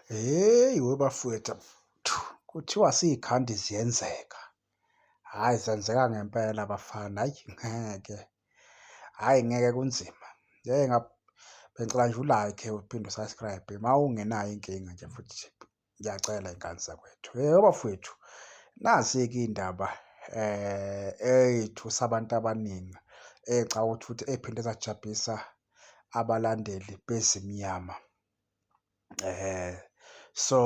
Hheyi we bafwethu kuthiwa siyikhandi ziyenzeka. Hhayi zenzeka ngempela bafana, hhayi ngeke. Hhayi ngeke kunzima. Ngeke bengicela nje u-like uphinde u-subscribe uma ungenayo inkinga nje futhi ngiyacela iy'ngane zakwethu. Hheyi bafwethu nazi-ke iy'ndaba um ey'thu sabantu abaningi ey'cabanga ukuthi futhi ey'phinde zajabhisa abalandeli beZimnyama. eh so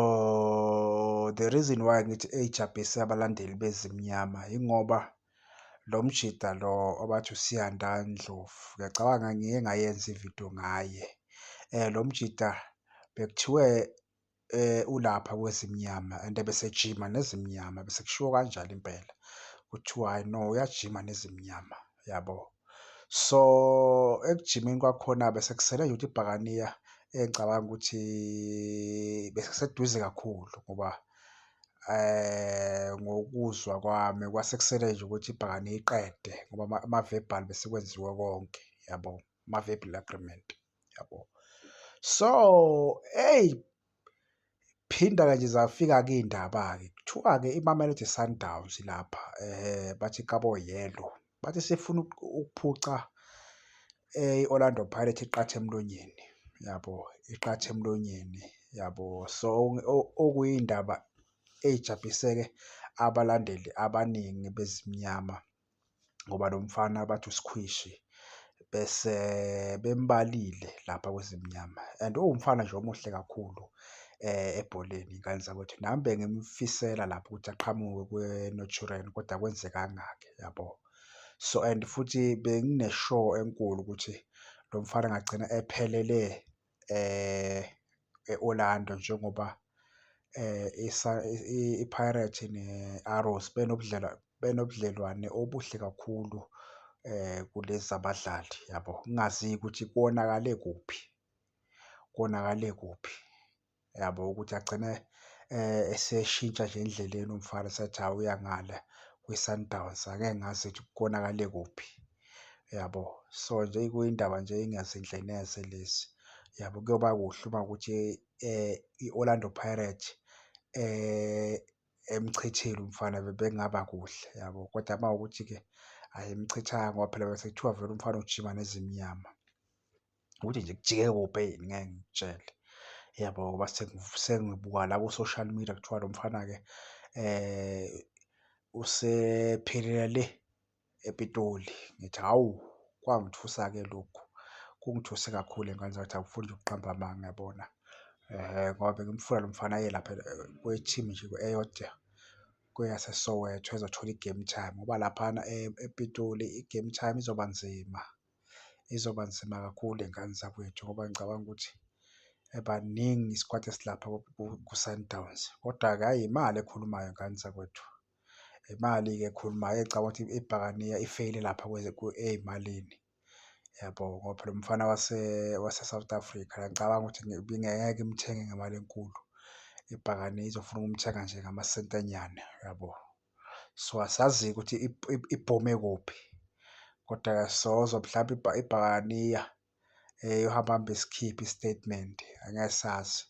the reason why ngithi eyijabhise abalandeli bezimnyama ingoba lo mjida lo obathi uSiyanda Ndlovu ngiyacabanga ngike ngayenza ividiyo ngaye um lo mjida bekuthiwe um ulapha kwezimnyama and ebesejima nezimnyama bese kushiwo kanjalo impela kuthiwa hhayi no uyajima nezimnyama. yabo. So ekujimeni kwakhona besekusele nje ukuthi ibhakaniya engicabanga ukuthi besekuseduze kakhulu ngoba eh ngokuzwa kwami kwasekusele nje ukuthi ibhakaniya iqede ngoba ama-verbal besekwenziwe konke yabo, ama-verbal agreement. yabo so hey phinda kanje zafika ke indaba ke kuthiwa ke iMamelodi Sundowns lapha eh bathi kabo yellow bathi sifuna ukuphuca eh, i-Orlando Pirates iqathe emlonyeni yabo iqathe emlonyeni yabo so okuyindaba ejabhiseke abalandeli abaningi bezimnyama ngoba lo mfana bathi usikhwishi bese bembalile lapha kweZimnyama and uwumfana nje omuhle kakhulu ebholeni ngane zakwethu. Nami bengimfisela lapho ukuthi aqhamuke kwiNaturena kodwa akwenzekanga-ke yabo. So and futhi bengine-sure enkulu ukuthi lo mfana angagcina ephelele. e-Orlando njengoba iPirates ne-Arrows benobudlelwane obuhle kakhulu kulezi zabadlali yabo, kungaziwa ukuthi konakale kuphi, konakale kuphi. yabo ukuthi agcine eseshintsha nje endleleni umfana esethi hhawu uya ngale kwiSundowns. Angeke ngazi ukuthi konakale kuphi yabo. So, nje kuyindaba nje engazinhle neze lezi yabo. Kuyoba kuhle uma kuwukuthi i-Orlando Pirates emchithile umfana bekungaba kuhle yabo, kodwa uma kuwukuthi-ke ayimchithanga ngoba phela besekuthiwa vele umfana ujima neZimnyama. ukuthi nje kujike kopeyini ngeke ngikutshele yabo ngoba sengibuka la ku-social media kuthiwa lo mfana-ke um usephelela le ePitoli. Ngithi hhawu kwangithusa-ke lokhu, kungithuse kakhulu ngane zami ngathi angifuni nje ukuqamba amanga yabona ngoba bengimfuna lo mfana aye lapha kwi-team nje eyodwa kweyaseSoweto ezothola i-game time ngoba laphana ePitoli i-game time izoba nzima. izoba nzima kakhulu ngey'ngane zakwethu ngoba ngicabanga ukuthi baningi isikwati esilapha ku-Sundowns. Kodwa-ke hhayi imali ekhulumayo ngane zakwethu, imali-ke ekhulumayo ecabanga ukuthi ibhakaniya ifeyile lapha ey'malini yabo ngoba phela umfana wase-South Africa ngiyacabanga ukuthi ngeke imthenge ngemali enkulu, ibhakaniya izofuna ukumthenga nje ngamasenti anyane yabo. so asazi ukuthi ibhome kuphi kodwa-ke sozwa mhlawumbe ibhakaniya um eh, yohamba hambe sikhiphe i-statement angeke sazi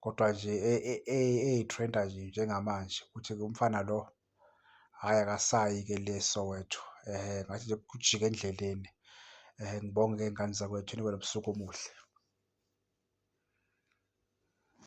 kodwa nje e, e, e, eyi-trenda nje njengamanje ukuthi umfana lo hhayi akasayi-ke le Soweto um ngathi nje kujike endleleni um ngibonge-ke ngane zakwethu nibe nobusuku omuhle